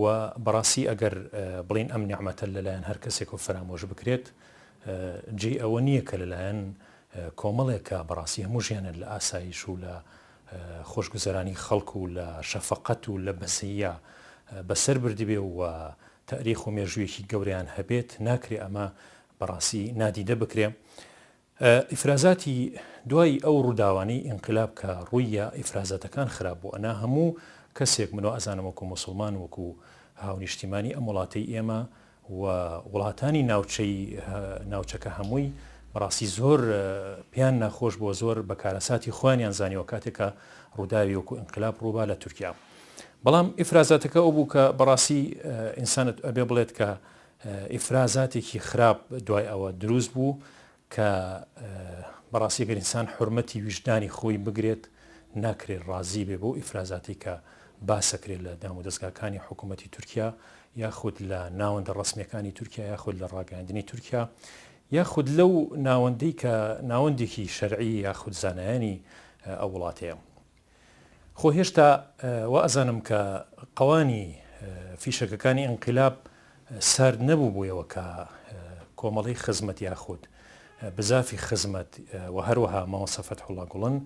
و بەڕاستی ئەگەر بڵێین ئەم نیعمەتە لەلایەن هەر کەسێکەوە فەرامۆش بکرێت جێی ئەوە نییە کە لەلایەن کۆمەڵێک کە بەڕاستی هەموو ژیانیان لە ئاسایش و لە خۆشگوزەرانی خەڵک و لە شەفەقەت و لە بەزەییا بەسەر بردبێ و تاریخ و مێژوویەکی گەورەیان هەبێت ناکرێ ئەمە بەڕاستی نادیدە بکرێ. ئیفرازاتی دوای ئەو ڕوداوانەی ئینقلاب کە ڕوییا ئیفرازاتەکان خراپ بوو ئەنا هەموو کەسێک من وا ئەزانم وەکو موسڵمان وەکو هاونیشتیمانی ئەم وڵاتەی ئێمە و وڵاتانی ناوچەی ناوچەکە هەمووی بەڕاستی زۆر پێیان ناخۆش بۆ زۆر بە کارەساتی خۆیانیان زانیوە کاتێک کە ڕوداوی وەکو ئینقلاب ڕوبا لە تورکیا بەڵام ئیفرازاتەکە ئەو بوو کە بەڕاستی ئینسانت ئەبێ بڵێت کە ئیفرازاتێکی خراپ دوای ئەوە دروست بوو کە بەڕاستی گەر ئینسان حورمەتی ویژدانی خۆی بگرێت ناکرێت ڕازی بێ بۆ ئیفرازاتی کە باسەکرێت لە دام و دەستگاکانی حکوومەتی تورکیا یاخود لە ناوەندە ڕسمیەکانی تورکیا یاخود لە ڕاگەاندنی تورکیا یاخود لەو ناوەندەی کە ناوەندێکی شەرعی یاخود زانایانی ئەو وڵاتەیە خۆ هێشتا وائەزانم کە قەوانی فیشەکەکانی ئینقیلاب سارد نەبووبوویەوە کە کۆمەڵەی خزمەت یاخود بزافی خزمەت و هەروەها مامۆستا فەتحوڵا گوڵن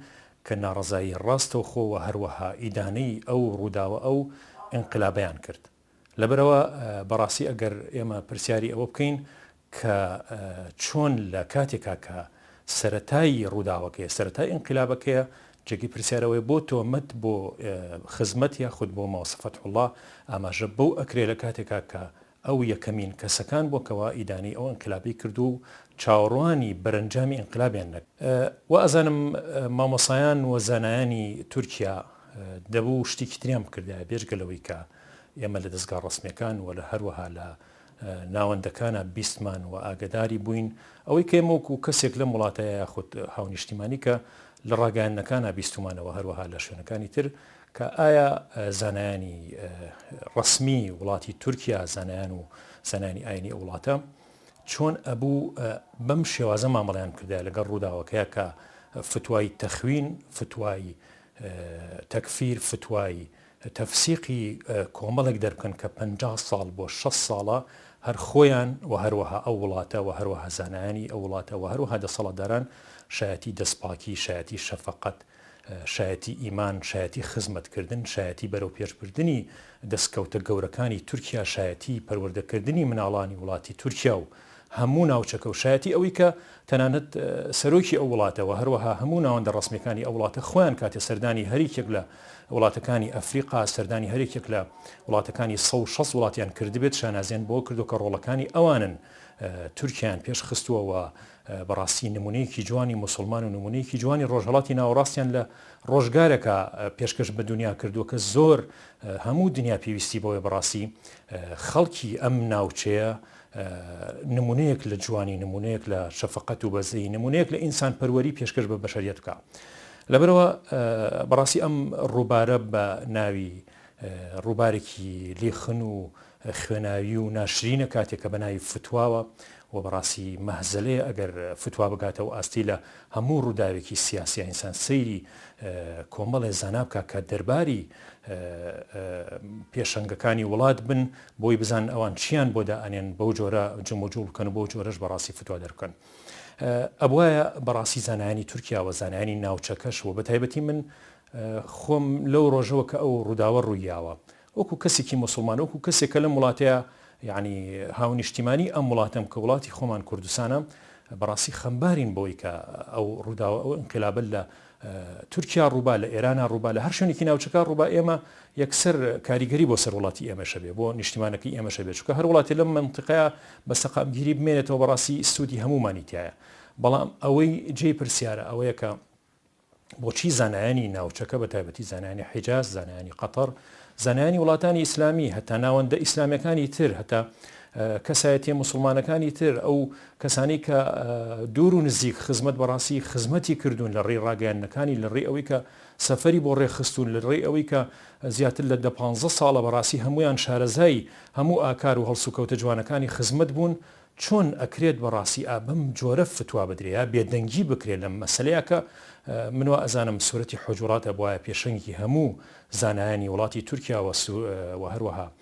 کە ناڕەزایی ڕاستەوخۆ و هەروەها ئیدانەی ئەو ڕووداوە ئەو ئینقیلابەیان کرد. لەبەرئەوە بەڕاستی ئەگەر ئێمە پرسیاری ئەوە بکەین کە چۆن لە کاتێکا کە سەرەتای ڕووداوەکەیە، سەرەتای ئینقلابەکەیە، جێگەی پرسیار ئەوەیە بۆ تۆمەت بۆ خزمەت یاخود بۆ مامۆستا فەتحوڵڵا ئاماژە بەو ئەکرێ لە کاتێکا کە ئەو یەکەمین کەسەکان بووە کەوا ئیدانەی ئەو ئینقلابەی کردووە و چاوەڕوانی بەرەنجامی ئینقلابیان نەکرد. وائەزانم مامۆستایان و زانایانی تورکیا دەبوو شتێکی تریان بکردایە بێجگە لەوەی کە ئێمە لە دەزگا ڕەسمیەکان و لە هەروەها لە ناوەندەکانا بیستمان و ئاگەداری بووین ئەوەی کە ئێمە وەکو کەسێک لەم وڵاتەیە یاخود هاونیشتیمانی کە لە ڕاگەیاندنەکانا بیستومانەوە هەروەها لە شوێنەکانی تر کە ئایا زانایانی ڕەسمی وڵاتی تورکیا زانایان و زانانی ئاینی ئەو وڵاتە چۆن ئەبوو بەم شێوازە مامەڵیان کردای لەگەڵ ڕووداوەکەیە کە فتوای تەخوین فتوای تەکفیر، فتوای تەفسیقی کۆمەڵێک دەربکەن کە پەنجا ساڵ بۆ شەست ساڵە هەر خۆیان و هەروەها ئەو وڵاتە و هەروەها زانایانی ئەو وڵاتە و هەروەها دەسەڵاتداران شایەتی دەستپاکی، شایەتی شەفەقەت، شایەتی ئیمان، شایەتی خزمەتکردن، شایەتی بەرەوپێشبردنی دەستکەوتە گەورەکانی تورکیا، شایەتی پەروەردەکردنی مناڵانی وڵاتی تورکیا و هەموو ناوچەکە و شایەتی ئەوەی کە تەنانەت سەرۆکی ئەو وڵاتە و هەروەها هەموو ناوەندە ڕەسمیەکانی ئەو وڵاتە خۆیان کاتێ سەردانی هەریکێک لە وڵاتەکانی ئەفریقا سەردانی هەریکێک لە وڵاتەکانی سەد و شەست وڵاتیان کردبێت شانازیان بەوە کردو کە ڕۆڵەکانی ئەوانن تورکیایان پێش خستووە و بەڕاستی نمونەیەکی جوانی موسڵمان و نمونەیەکی جوانی ڕۆژهەڵاتی ناوەڕاستیان لە ڕۆژگارەکە پێشکەش بە دنیا کردووە کە زۆر هەموو دنیا پێویستی بەوەی بەڕاستی خەڵکی ئەم ناوچەیە نمونەیەک لە جوانی نمونەیەک لە شەفقەت و بەزەی نمونەیەک لە ئینسان پەروەری پێشکەش بە بەشەریت بکە لەبەرەوە بەڕاستی ئەم ڕووبارە بە ناوی ڕووبارێکی لیخن و خوێناوی و ناشرینە کاتێک کە بەناوی فتواوە و بەڕاستی مەهزلەیە ئەگەر فتوا بگاتە و ئاستی لە هەموو ڕووداوێکی سیاسی ئینسان سەیری کۆمەڵێ زانابکە کە دەرباری پێشنگەکانی وڵات بن بۆی بزانن ئەوان چیان بۆ دائەنێن بەو جۆرە جموجوڵ بکەن و بەو جۆرەش بەڕاستی فتوا دەربکەن ئەبوایە بەڕاستی زانایانی تورکیا و زانایانی ناوچەکەش و بەتایبەتی من خۆم لەو ڕۆژەوە کە ئەو ڕووداوە ڕوویاوە وەکو کەسێکی مسلمان وەکو کەسێک کە لەم وڵاتەیە یعنی هاونیشتیمانی ئەم وڵاتەم کە وڵاتی خۆمان کوردستانە بەڕاستی خەمبارین بۆی کە ئەو ڕووداوە ئەو انقلابە لە تورکیا ڕووبا لە ئێرانا ڕووبا لە هەر شوێنێکی ناوچەکە ڕووبا ئێمە یەکسەر کاریگەری بۆ سەر وڵاتی ئێمەش هەبێ بۆ نیشتیمانەکەی ئێمەش هەبێ چونکە هەر وڵاتێ لەم مەنتیقەیە بە سەقامگیری بمێنێتەوە بەڕاستی سوودی هەموومانی تیایە بەڵام ئەوەی جێی پرسیارە ئەوەیە کە بۆچی زانایانی ناوچەکە بە تایبەتی زانانی حیجاز زانایانی قەتەر زانایانی وڵاتانی ئیسلامی هەتا ناوەندە ئیسلامەکانی تر هەتا کەسایەتیە مسلمانەکانی تر ئەو کەسانی کە دوور و نزیک خزمەت بە ڕاستی خزمەتی کردوون لە ڕێی ڕاگەیاندنەکانی لە ڕێی ئەوەی کە سەفەری بۆ ڕێکخستوون لە ڕێی ئەوەی کە زیاتر لە دە پانزە ساڵە بە ڕاستی هەموویان شارەزای هەموو ئاکار و هەڵسوکەوتە جوانەکانی خزمەت بوون چۆن ئەکرێت بە ڕاستی ئا بەم جۆرە فتوا بدرێ یا بێدەنگی بکرێ لەم مەسەلەیە کە من وا ئەزانم سورەتی حوجوڕات ئەبوایە پێشەنگی هەموو زانایانی وڵاتی تورکیا و هەروەها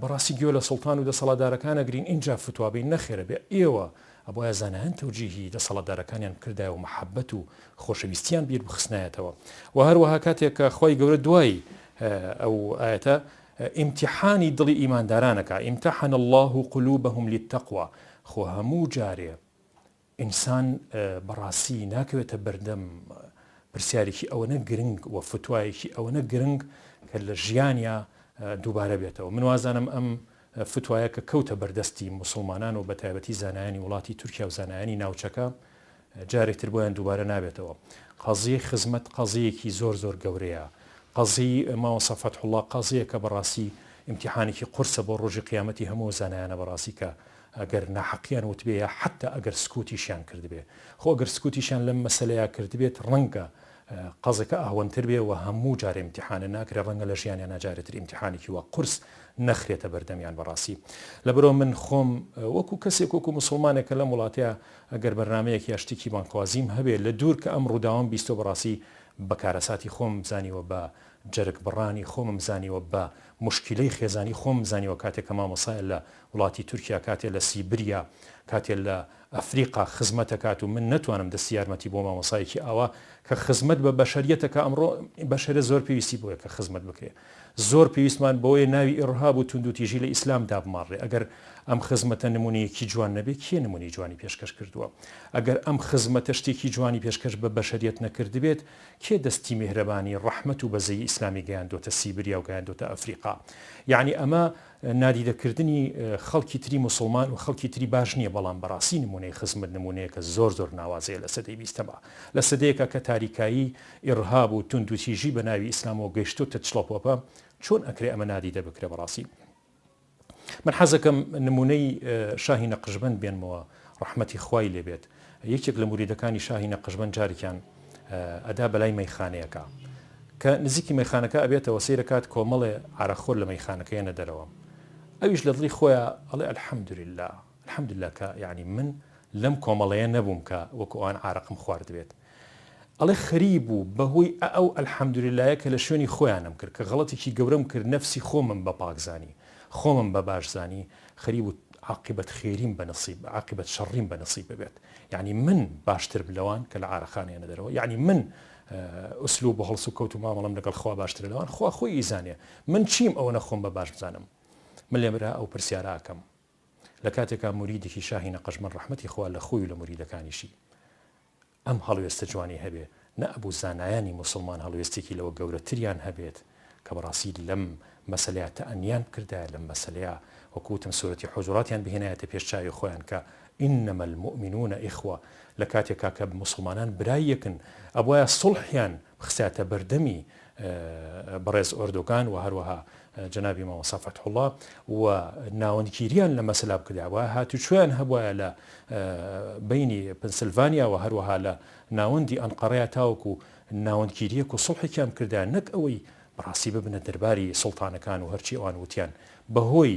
بەڕاستی گوێ لە سوڵتان و دەسەڵاتدارەکان ئەگرین ئینجا فتوا بەین نەخێر ئەبێ ئێوە ئەبوایە زانایان تەوجیهی دەسەڵاتدارەکانیان بکردایە و مەحەبەت و خۆشەویستیان بیر بخستنایەتەوە وە هەروەها کاتێک کە خوای گەورە دوای ئەو ئایەتە ئیمتیحانی دڵی ئیمانداران ئەکا، امتحن اللە قلوبهم للتقوی، خۆ هەموو جارێ ئینسان بەڕاستی ناکەوێتە بەردەم پرسیارێکی ئەوەنە گرنگ و فتوایەکی ئەوەنە گرنگ کە لە ژیانیا دووبارە بێتەوە من وازانم ئەم فتوایە کە کەوتە بەردەستی موسڵمانان و بەتایبەتی زانایانی وڵاتی تورکیا و زانایانی ناوچەکە جارێک تر بۆیان دووبارە نابێتەوە قەزیەی خزمەت قەزیەکی زۆر زۆر گەورەیە قەزی ماوەسە فەتحوڵا قەزیە کە بەڕاستی ئیمتیحانێکی قورسە بۆ ڕۆژی قیامەتی هەموو زانایانە بەڕاستی کە ئەگەر ناحەقیان وتبێ یا حەتتا ئەگەر سکوتیشیان کردبێ، خۆ ئەگەر سکوتیشیان لەم مەسەلەیا کردبێت ڕەنگە قەزەکە ئەهوەنتر بێ و هەموو جارێ ئیمتیحانە ناکرێ، ڕەنگە لە ژیانیانا جارێتر ئیمتیحانێکی وا قورس نەخرێتە بەردەمیان بەڕاستی لەبەرئەوە من خۆم وەکو کەسێک وەکو موسڵمانێک کە لەم وڵاتەیا ئەگەر بەرنامەیەک یا شتێکی بانگخوازیم هەبێ لە دوور کە ئەم ڕووداوەم بیستوە بەڕاستی بە کارەساتی خۆمم زانیوە بە جەرگبڕانی خۆمم زانیوە بە موشکیلەی خێزانی خۆمم زانیوە کاتێک کە مامۆستایە لە وڵاتی تورکیا کاتێ لە سیبریا کاتێ لە ئەفریقا خزمەت ئەکات و من نەتوانم دەستی یارمەتی بۆ مامۆسایەکی ئاوا کە خزمەت بە بەشەریەت ئەکا ئەمڕۆ بەشەرە زۆر پێویستی بۆیە کە خزمەت بکرێ زۆر پێویستمان بۆیە ناوی ئیڕهاب و توندوتیژی لە ئیسلام دابماڕێ ئەگەر ئەم خزمەتە نمونەیەکی جوان نەبێ کێ نمونەی جوانی پێشکەش کردووە ئەگەر ئەم خزمەتە شتێکی جوانی پێشکەش بە بەشەریەت نەکردبێت کێ دەستی میهرەبانی ڕەحمەت و بەزەیی ئیسلامی گەیاندۆتە سیبریا و گەیاندۆتە ئەفریقا یەعنی ئەمە نادیدە کردنی خەڵکی تری موسڵمان و خەڵکی تری باش نیە بەڵام بەڕاستی نمونەی خزمت نمونەیەکە زۆر زۆر ناوازەیە لە سەدەی بیستەما لە سەدەیەکا کە تاریکایی ئیڕهاب و توندوتیژی بە ناوی ئیسلامەوە گەیشتۆتە چڵەپۆپە چۆن ئەکرێ ئەمە نادیدە بکرێ بەڕاستی من حەزەکەم نمونەی شاهی نەقشبەند بێنمەوە ڕەحمەتی خوای لێ بێت یەکێک لە موریدەکانی شاهی نەقشبەند جارێکیان ئەدا بەلای مەیخانەیەکا کە نزیکی مەیخانەکە ئەبێتەوە سەیرەکات کۆمەڵێ عارەق خۆر لە مەیخانەکە یەنە دەرەوە ئەویش لە دڵی خۆیا ئەڵێ الحمدللە الحمدللە کە یانی من لەم کۆمەڵەیە نەبووم کە وەکو ئەوان عارەقم خواردبێت ئەڵێ خەریب و بەهۆی ئە ئەو الحمدللەیە کە لە شوێنی خۆیانم کرد کە غەڵەتێکی گەورەم کرد نەفسی خۆمم بە پاک زانی خۆمم بە باش زانی خەریب و عاقبەت خێریم بە نسیب عاقبەت شەڕیم بە نسیب ببێت یەعنی من باشترم لەوان کە لە عارەقان یەنە دەرەوە یەعنی من ئسلوب و هەڵس و کەوت و مامەڵەم لەگەڵ خوا باشترە لەوان خوا خۆی ئیزانێ من چیم ئەوەنە خۆم بە باش بزانم من لێم را ئەو پرسیارە ئەکەم لە کاتێکا موریدێکی شاهی نەقەشبەند ڕەحمەتی خوا لە خۆی و لە موریدەکانیشی ئەم هەڵوێستە جوانی هەبێ نە ئەبوو زانایانی موسڵمان هەڵوێستێکی لەوە گەورەتریان هەبێت کە بەڕاستی لەم مەسەلەیا تەئەنیان بکردایە لەم مەسەلەیا وەکو وتم سورەتی حوجراتیان بهێنایەتە پێش چاوی خۆیان کە انما المومنون اخوە لە کاتێکا کە موسڵمانان برای یەکن ئەبوایە سوڵحیان خستایەتە بەردەمی بەڕێز ئۆردۆگان و هەروەها جەنابی مامۆستا فەتحوڵا و ناوەندگیریان لە مەسەلا بکرداوە هاتوچۆیان هەبوایە لە بینی پنسلڤانیا و هەروەها لە ناوەندی ئەنقەڕەیە تاوەکو و ناوەندگیریەک و سڵحێکیان کردا نەک ئەوەی بەڕاستی ببنە دەرباری سڵتانەکان و هەرچی ئەوان وتیان بەهۆی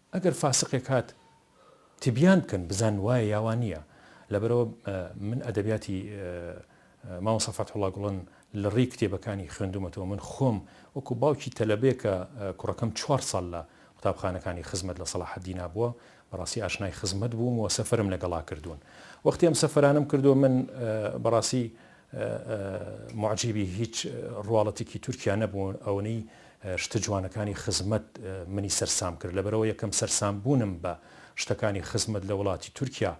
ئەگەر فاسقێک هات تبیان بکەن بزانن وایە یا وا نییە لەبەرئەوە من ئەدەبیاتی مامۆستا فەتحوڵا گوڵن لە ڕێی کتێبەکانی خوێندومەتەوە من خۆم وەکو باوکی تەلەبێکە کوڕەکەم چوار ساڵ لە قوتابخانەکانی خزمەت لە سەڵاحەدینا بووە بەڕاستی ئاشنای خزمەت بووم و سەفەرم لەگەڵا کردوون وەختی ئەم سەفەرانم کردو من بەڕاستی موعجیبی هیچ ڕواڵەتێکی تورکیا نەبوو ئەونەی شتە جوانەکانی خزمەت منی سەرسام کرد لەبەرەوە یەکەم سەرسام بوونم بە شتەکانی خزمەت لە وڵاتی تورکیا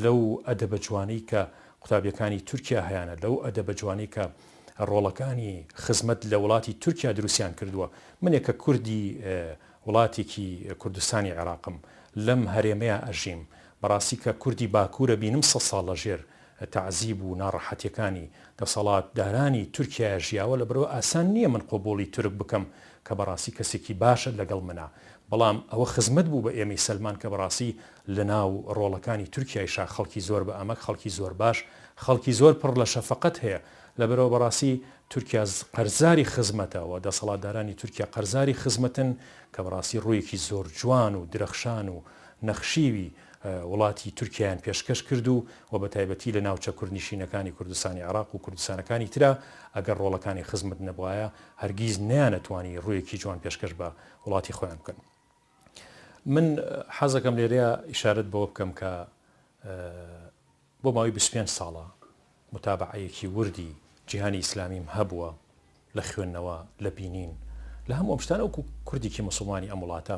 لەو ئەدەبە جوانەی کە قوتابیەکانی تورکیا هەیانە لەو ئەدەبە جوانەی کە ڕۆڵەکانی خزمەت لە وڵاتی تورکیا دروستیان کردووە منێ کە کوردی وڵاتێکی کوردستانی عێراقم لەم هەرێمەیە ئەژیم بەڕاستی کە کوردی باکورە بینم سەد ساڵ لەژێر تەعزیب و ناڕەحەتیەکانی دەسەڵات دارانی تورکیایە ژیاوە لەبەرئەوە ئاسان نیە من قبوڵی تورک بکەم کە بەڕاستی کەسێکی باشە لەگەڵ منە بەڵام ئەوە خزمەت بوو بە ئێمەی سەلمان کە بەڕاستی لەناو ڕۆڵەکانی تورکیایشا خەڵکی زۆر بە ئەمەک خەڵکی زۆر باش خەڵکی زۆر پڕ لە شەفەقەت هەیە لەبەرئەوە بەڕاستی تورکیا قەرزاری خزمەتە وە دەسەڵاتدارانی تورکیا قەرزاری خزمەتن کە بەڕاستی ڕوویەکی زۆر جوان و درەخشان و نەخشیوی وڵاتی تورکیایان پێشکەش کرد و وە بەتایبەتی لە ناوچە کوردنیشینەکانی کوردستانی عێراق و کوردستانەکانی ترا ئەگەر ڕۆڵەکانی خزمت نەبوایە هەرگیز نەیانەتوانی ڕوویەکی جوان پێشکەش بە وڵاتی خۆیان بکەن من حەزەکەم لێرەیا ئیشارەت بەوە بکەم کە بۆ ماوەی بیست و پێنج ساڵە موتابەعەیەکی وردی جیهانی ئیسلامیم هەبووە لە خوێندنەوە، لە بینین، لە هەموو ئەم شتانە وەکو کوردێکی موسڵمانی ئەم وڵاتە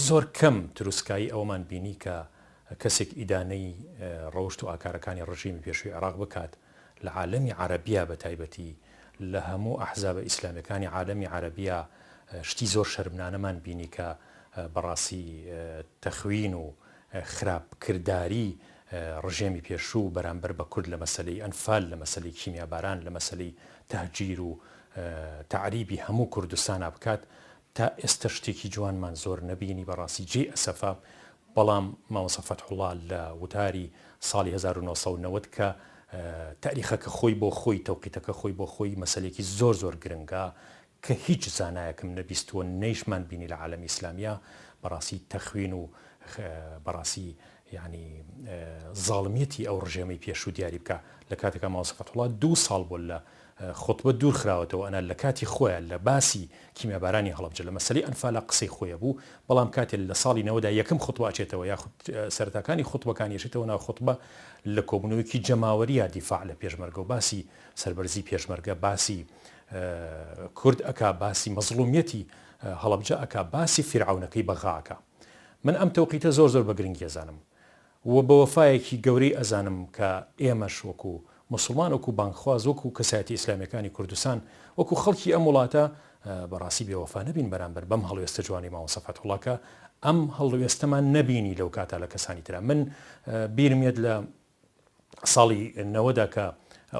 زۆر کەم تروسکایی ئەوەمان بینی کە کەسێک ئیدانەی ڕەوشت و ئاکارەکانی ڕژیمی پێشووی عێراق بکات لە عالەمی عەرەبیا بە تایبەتی لە هەموو ئەحزابە ئیسلامیەکانی عالەمی عەرەبیا شتی زۆر شەرمنانەمان بینی کە بەڕاستی تەخوین و خراپ کرداری ڕژێمی پێشوو بەرامبەر بە کورد لە مەسەلەی ئەنفال، لە مەسەلەی کیمیاباران، لە مەسەلەی تەهجیر و تەعریبی هەموو کوردستانا بکات، تا ئێستا شتێکی جوانمان زۆر نەبینی بەڕاستی جێی ئەسەفە، بەڵام مامۆستا فەتحوڵا لە وتاری ساڵی هەزار و نۆ سەد و نەوەد کە تاریخەکە خۆی بۆ خۆی تەوقیتەکە خۆی بۆ خۆی مەسەلەیەکی زۆر زۆر گرنگە کە هیچ زانایەکم نەبیستووە نەیشمان بینی لە عالەمی ئیسلامییا بەڕاستی تەخوین و بەڕاستی یانی زاڵمیەتی ئەو ڕژێمەی پێشوو دیاری بکا لە کاتێکا مامۆستا فەتحوڵا دوو ساڵ بۆ لە خوتبە دوور خراوەتەوە ئەنا لە کاتی خۆیان لە باسی کیمیابارانی هەڵەبجە لە مەسەلەی ئەنفالا قسەی خۆیە بوو بەڵام کاتێ لە ساڵی نەوەدا یەکەم خوتبە ئەچێتەوە یاخود سەرەتاکانی خوتبەکانی ئەچێتەوە ناو خوتبە لە کۆبوونەوەیەکی جەماوەرییا دیفاع لە پێشمەرگە و باسی سەربەرزی پێشمەرگە باسی کورد ئەکا باسی مەزڵومیەتی هەڵەبجە ئەکا باسی فیرعەونەکەی بەغا ئەکا من ئەم تەوقیتە زۆر زۆر بەگرنگی ئەزانم و بەوەفایەکی گەورەی ئەزانم کە ئێمەش وەکو موسڵمان وەکو بانگخواز وەکو کەسایەتی ئیسلامیەکانی کوردستان وەکو خەڵکی ئەم وڵاتە بەڕاستی بێوەفا نەبین بەرامبەر بەم هەڵوێستە جوانەی مامۆستا فەتحوڵا کە ئەم هەڵوێستەمان نەبینی لەوکاتە لە کەسانی ترا من بیرم یەت لە ساڵی نەوەدا کە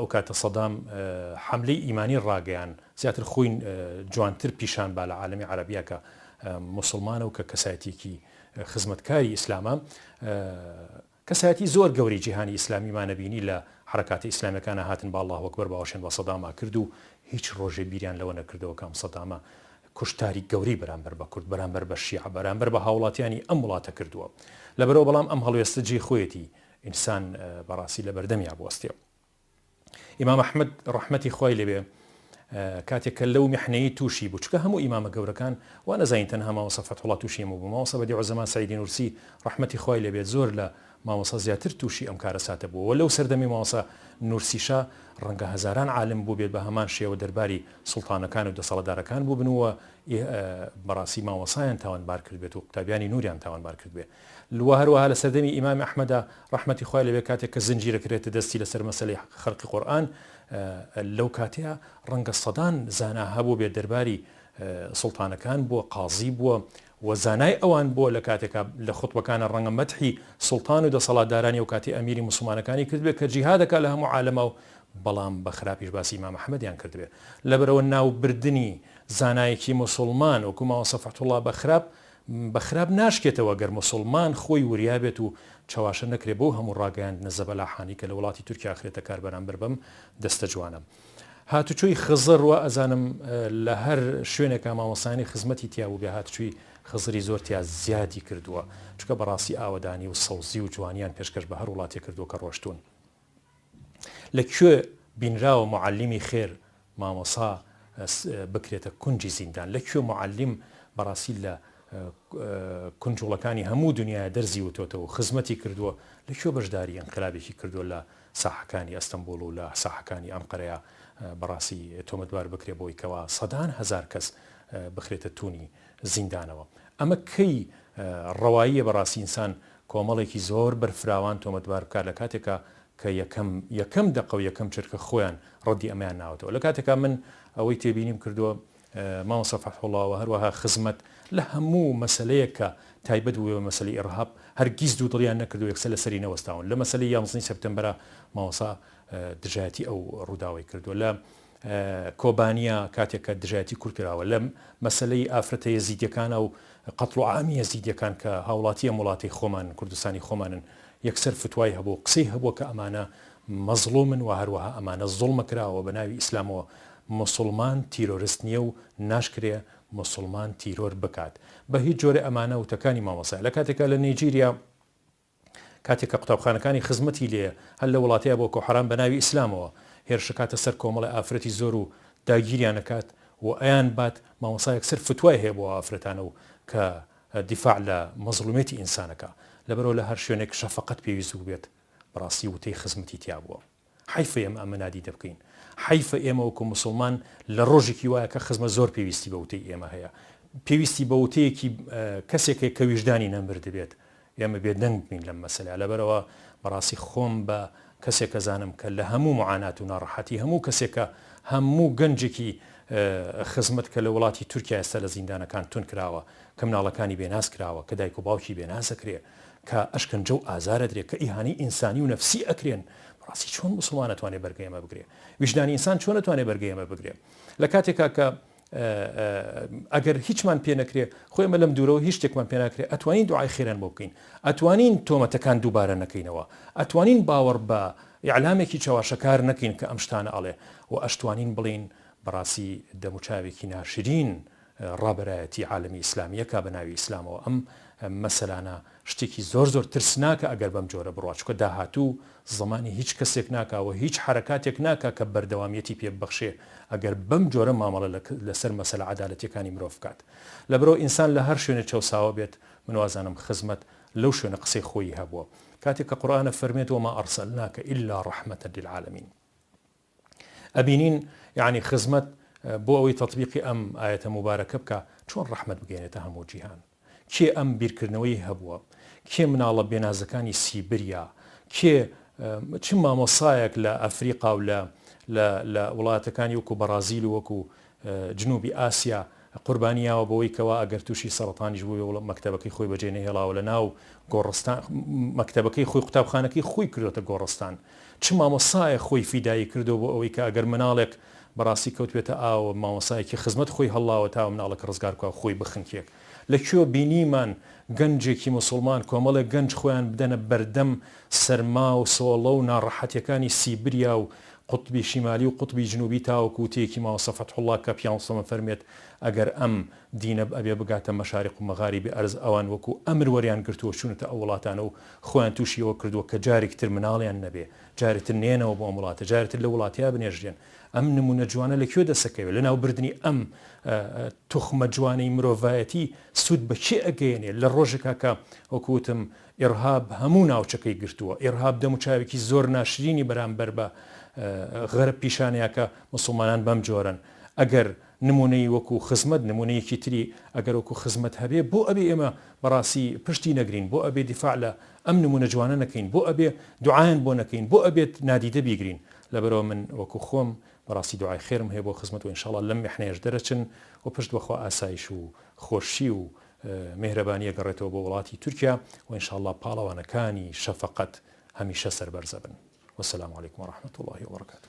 ئەوکاتە سەدام حەملەی ئیمانی ڕاگەیان زیاتر خۆی جوانتر پیشان با لە عالەمی عەرەبیا کە موسڵمانە و کە کەسایەتیەکی خزمەتکاری ئیسلامە کەسایەتی زۆر گەوری جیهانی ئیسلامی مانەبینی لە حرەکاتە ئیسلامیەکانە هاتن با اللە اکبر باوەشێن بە سەداما کرد و هیچ ڕۆژێ بیریان لەوە نەکردەوە کام سەدامە کوشتاری گەوری بەرامبەر بە کورد بەرامبەر بە شیعە بەرامبەر بە هاوڵاتیانی ئەم وڵاتە کردووە لەبەرەوە بەڵام ئەم هەڵوێستە جێ خۆیەتی ئینسان بەڕاستی لەبەردەمیا بوەستێ و ئیمام ئەحمەد ڕەحمەتی خوای لێبێ کاتێک کە لەو میحنەی تووشی بوو چکە هەموو ئیمامە گەورەکان وا نەزانین تەنها ماوەسە فەتحوڵا تووشی هەموو بوو ماوەسە بەدی عوزەمان سەیدی نورسی ڕەحمەتی خوای لێبێت زۆر لە ماوەسە زیاتر تووشی ئەم کارە ساتە بووەوە لەو سەردەمی ماوەسە نورسیشا ڕەنگە هەزاران عالم بوو بێت بە هەمان شێوە دەرباری سوڵتانەکان و دەسەڵەدارەکان بوو بنووە بەڕاستی ماوەسایان تاوانبار کرد بێت و قوتابیانی نوریان تاوانبار کرد بێت لوا هەروەها لە سەردەمی ئیمام ئەحمەدا ڕەحمەتی خوای لێبێ کاتێک کە زنجیر ئەکرێتە دەستی لەسەر مەسەلەی خەرقی قورئان لەو کاتەیا ڕەنگە سەدان زانا هەبووبێ دەرباری سوڵتانەکان بووە قازی بووە و زانای ئەوان بووە لە کاتێکا لە خوتبەکانە ڕەنگە مەدحی سوڵتان و دەسەڵاتدارانی ئەو کاتی ئەمیری موسڵمانەکانی کردبێ کە جیهاد دەکا لە هەموو عالەما و بەڵام بە خراپیش باسی ئیمام ئەحمەدیان کردبێ لەبەرئەوە ناوبردنی زانایەکی موسڵمان وەکوو مامۆستا فەتحوڵڵا بە خراپ بە خراپ ناشکێتەوە گەر موسوڵمان خۆی وریا بێت و چەواشە نەکرێت بەو هەموو ڕاگەیاندنە زەبەلاحانەی کە لە وڵاتی تورکیا ئەخرێتە کار بەرامبەر بەم دەستە جوانە هاتوچۆی خزر وا ئەزانم لە هەر شوێنێکا مامۆستایانی خزمەتی تیا بووبێ هاتوچۆی خزری زۆر تیا زیادی کردووە چونکە بەڕاستی ئاوەدانی و سەوزی و جوانیان پێشکەش بە هەر وڵاتێک کردووە کە ڕۆشتوون. لە کوێ بینراوە موعەلیمی خێر مامۆسا بکرێتە کونجی زیندان؟ لە کوێ موعەلیم بەڕاستی لە کونجوڵەکانی هەموو دنیایە دەرزیوتۆتەوە و خزمەتی کردووە؟ لە کوێ بەشداری ئینقلابێکی کردووە لە ساحەکانی ئەستەمبوڵ و لە ساحەکانی ئەنقەرەیا بەڕاستی تۆمەتبار بکرێ بەوەی کەوا سەدان هەزار کەس بخرێتە توونی زیندانەوە؟ ئەمە کەی ڕەواییە بەڕاستی ئینسان کۆمەڵێکی زۆر بەرفراوان تۆمەتبار بکات لە کاتێکا کە یەکەم یەکەم دەقە و یەکەم چرکە خۆیان ڕەدی ئەمەیان ناوەتەوە لە کاتێکا من ئەوەی تێبینیم کردووە مامۆستا فەتحوڵا و هەروەها خزمەت لە هەموو مەسەلەیەک کە تایبەت بووێ بە مەسەلەی ئیڕهاب هەرگیز دوو دڵیان نەکردووە یەکسەر لە سەری نەوەستاون لە مەسەلەی یانزدە ی سێپتەمبەرا مامۆستا دژایەتی ئەو ڕووداوەی کردووە لە کۆبانیا کاتێک کە دژایەتی کورد کراوە لە مەسەلەی ئافرەتە یەزیدیەکانە و قەتڵ و عامی یەزیدیەکان کە هاوڵاتی ئەم وڵاتەی خۆمانن کوردستانی خۆمانن یەکسەر فتوای هەبوو قسەی هەبووە کە ئەمانە مەزڵومن و هەروەها ئەمانە زوڵمە کراوە بە ناوی ئیسلامەوە موسڵمان تیرۆرست نیە و ناشکرێ موسڵمان تیرۆر بکات بە هیچ جۆرێ ئەمانە وتەکانی مامۆسایە لە کاتێکا لە نێجیریا کاتێک کە قوتابخانەکانی خزمەتی لێ هەر لە وڵاتەیا بۆکۆ حەرام بە ناوی ئیسلامەوە هێرش ئەکاتە سەر کۆمەڵێ ئافرەتی زۆر و داگیریان ئەکات و ئەیان بات مامۆستا یەکسەر فتوای هەیە بۆ ئەو ئافرەتانە و کە دیفاع لە مەزڵومیەتی ئینسان ئەکا لەبەرئەوە لە هەر شوێنێک شەفەقەت پێویست بووبێت بەڕاستی وتەی خزمەتی تیابووە. حەیفە ئێمە ئەمە نادیدە بکەین. حەیفە ئێمە وەکو موسڵمان لە ڕۆژێکی وایە کە خزمە زۆر پێویستی بە وتەی ئێمە هەیە. پێویستی بە وتەیەکی کەسێک هەیە کە ویژدانی نەمردبێت ئێمە بێدەنگ بین لەم مەسەلە. لەبەرئەوە بەڕاستی خۆم بە کەسێک ئەزانم کە لە هەموو معانات و ناڕەحەتی هەموو کەسێکە هەموو گەنجێکی خزمەت کە لە وڵاتی تورکیا ئێستا لە زیندانەکان توندکراوە، کە مناڵەکانی بێناز کراوە، کە دایک و باوکی بێناز ئەکرێ، کە ئەشکەنجە و ئازار ئەدرێ کە ئیهانەی ئینسانی و نەفسی ئەکرێن بەڕاستی چۆن موسڵمان ئەتوانێ بەرگەی ئەمە بگرێ ویژدانی ئینسان چۆن ئەتوانێ بەرگەی ئەمە بگرێ لە کاتێکا کە ئەگەر هیچمان پێ نەکرێ خۆ ئێمە لەم دوورەوە هیچ شتێکمان پێ ناکرێ ئەتوانین دوعای خێران بۆ بکەین ئەتوانین تۆمەتەکان دووبارە نەکەینەوە ئەتوانین باوەڕ بە ئیعلامێکی چەواشەکار نەکەین کە ئەم شتانە ئەڵێ و ئەشتوانین بڵێین بەڕاستی دەموچاوێکی ناشرین ڕابەرایەتی عالەمی ئیسلامیە کا بەناوی ئیسلامەوە ئەم مەسەلانە شتێکی زۆر زۆر ترسناکە ئەگەر بەم جۆرە بڕوا چونکە داهاتوو زەمانی هیچ کەسێک ناکا و هیچ حەرەکاتێک ناکا کە بەردەوامیەتی پێ ببەخشێ ئەگەر بەم جۆرە مامەڵە لەسەر مەسەلە عەدالەتیەکانی مرۆڤ بکات لەبەرئەوە ئینسان لە هەر شوێنێ چەوساوە بێت من وازانم خزمەت لەو شوێنە قسەی خۆیی هەبووە کاتێک کە قورئانە فەرمێت وما ارسلناک الا رحمە للعالمین ئەبینین یەعنی خزمەت بۆ ئەوەی تەتبیقی ئەم ئایەتە موبارەکە بکا چۆن ڕەحمەت بگەینێتە هەموو جیهان کێ ئەم بیرکردنەوەی هەبووە کێ مناڵە بێنازەکانی سیبریا کێ چ مامۆسایەک لە ئەفریقا و لە لە وڵاتەکانی وەکو بەڕازیل وەکو جنوبی ئاسیا قوربانی یاوە بەوەی کەوا ئەگەر توشی سەڕەتانیش بوبێ وڵ مەکتەبەکەی خۆی بەجێ نەهێڵاوە لەناو گۆڕستان مەکتەبەکەی خۆی قوتابخانەکەی خۆی کردۆتە گۆڕستان چ مامۆستایەک خۆی فیدایی کردوە بۆ ئەوەی کە ئەگەر مناڵێک بەڕاستی کەوتبێتە ئاوەوە مامۆستایەکی خزمەت خۆی هەڵاوە تاوە مناڵەکە ڕزگار بکا و خۆی بخنکێ لە کوێ بینیمان گەنجێکی موسوڵمان کۆمەڵێک گەنج خۆیان بدەنە بەردەم سەرما و سۆڵە و ناڕەحەتیەکانی سیبریا و قوتبی شیمالی و قوتبی جنوبی تاوەکو وتەیەکی مامۆستا فەتحوڵا کەپیانسۆ بفەرموێت ئەگەر ئەم دینەب ئەبێ بگاتە مەشاریق و مەغاریبی ئەرز ئەوان وەکو ئەمر وەریان گرتووە چونەتە ئەو وڵاتانە و خۆیان توشی ئەوە کردووە کە جارێکتر مناڵیان نەبێ جارێتر نێنەوە بۆ ئەم وڵاتە جارێتر لەو وڵاتەیا بنێژرێن ئەم نمونە جوانە لە کوێ دەسەکەوێت لە ناو بردنی ئەم توخمە جوانەی مرۆڤایەتی سود بە کێ ئەگەیەنێت لە ڕۆژێکا کە وەکوتم ئێڕهاب هەموو ناوچەکەی گرتووە ئێڕهاب دەم و چاوێکی زۆر ناشرینی بەرامبەر بە غەرب پیشانەیەکە مسلمانان بەم جۆرەن ئەگەر نمونەی وەکو خزمەت نمونەیەکی تری ئەگەر وەکو خزمەت هەبێ بۆ ئەبێ ئێمە بەڕاستی پشتی نەگرین بۆ ئەبێ دیفاع لە ئەم نمونە جوانە نەکەین بۆ ئەبێ دوعایان بۆ نەکەین بۆ ئەبێت نادیدە بیگرین لەبەرئەوە من وەکو خۆم بەڕاستی دوعای خێرم هەیە بۆ خزمەت وە انشااللە لەم میحنەیەش دەرەچن و پشت بەخوا ئاسایش و خۆشی و میهرەبانی ئەگەڕێتەوە بۆ وڵاتی تورکیا و انشااللە پاڵەوانەکانی شەفەقەت هەمیشە سەربەرزەبن والسلام علیکم ورحمەت اللە وبرکاته.